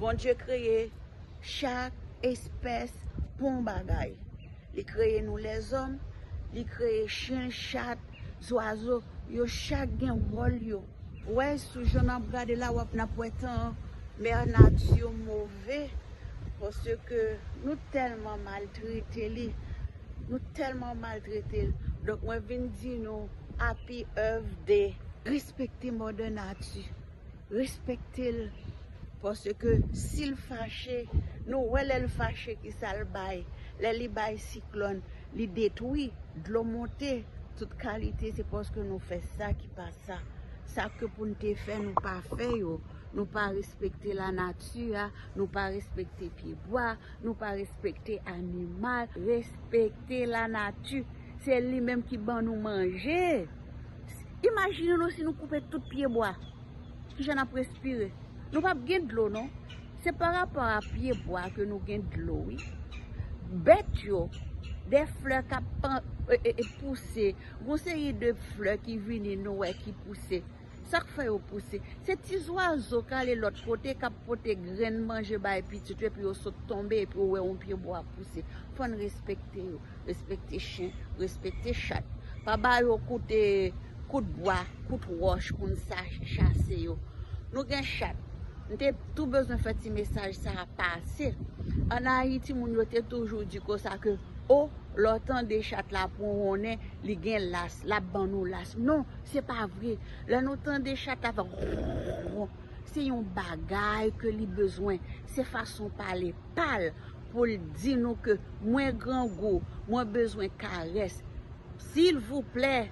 Bondye kreye chak espès pou yon bagay. Li kreye nou lèzòm, li kreye chen, chat, zwazo, yo chak gen wòl yo. Wè sou jan n ap gade la wap n ap wè tan an, mè nati move paske nou tèlman maltrete li, nou tèlman maltrete l. Donk mwen vin di nou api èv de respekte mòdè nati. Respektel paske sil fache nou wè lèl fache kisal bay lè li bay siklòn li detwi dlo monte tout kalite se paske nou fè sa ki pa sa sake poun te fè nou pa fè yo nou pa respekte la nati a nou pa respekte pye bwa nou pa respekte animal respekte la nati se li menm ki ban nou manje. Imajine nou si nou koupe tout pye bwa, ki jan n ap respire? Nou p ap gen dlo non. Se pa rapò a pye bwa ke nou gen dlo wi. Bèt yo, de flè k ap pouse, yon seri de flè ki vini nou wè ki pouse. Sa k fè yo pouse? Se ti zwazo k ale lòt kote k ap pote grenn manje bay pitit yo epi yo sot tonbe epi yo wè yon pye bwa pouse. Fò n respekte yo. Respekte chen, respekte chat. Pa ba yo koute, kout bwa, kout wòch pou n sa chase yo. Nou gen chat. M te tou bezwen fè ti mesaj sa a pase. An Ayiti, moun yo te toujou di ko sa ke, o, lè w tande chat la ap wonwonnen, li gen las, l ap ban nou las. Non, se pa vre. Lè nou tande chat la ap wonwonnen, se yon bagay ke li bezwen. Se fason pale pa l. pou l di nou ke mwen grangou, mwen bezwen karès. Silvouplè,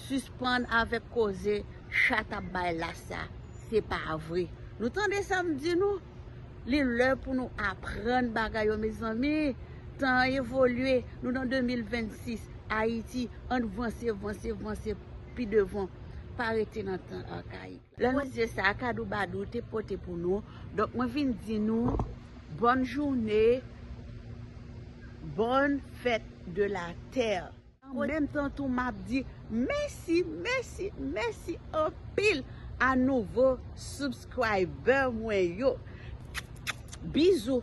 sispann avèk koze chat ap bay la sa. Se pa vre. Nou tande sa m di nou? Li lè pou nou aprann bagay yo mezanmi. Tan an evolye, nou nan 2026, Ayiti, ann vanse, vanse, vanse pi devan. Pa rete nan tan akayik. Lè nou zye sa kadou badou te pote pou nou donk mwen vin di nou bòn joune bòn fèt de la tè. An menm tan tou map di mèsi mèsi mèsi anpil a nouvo subscriber mwen yo bizou.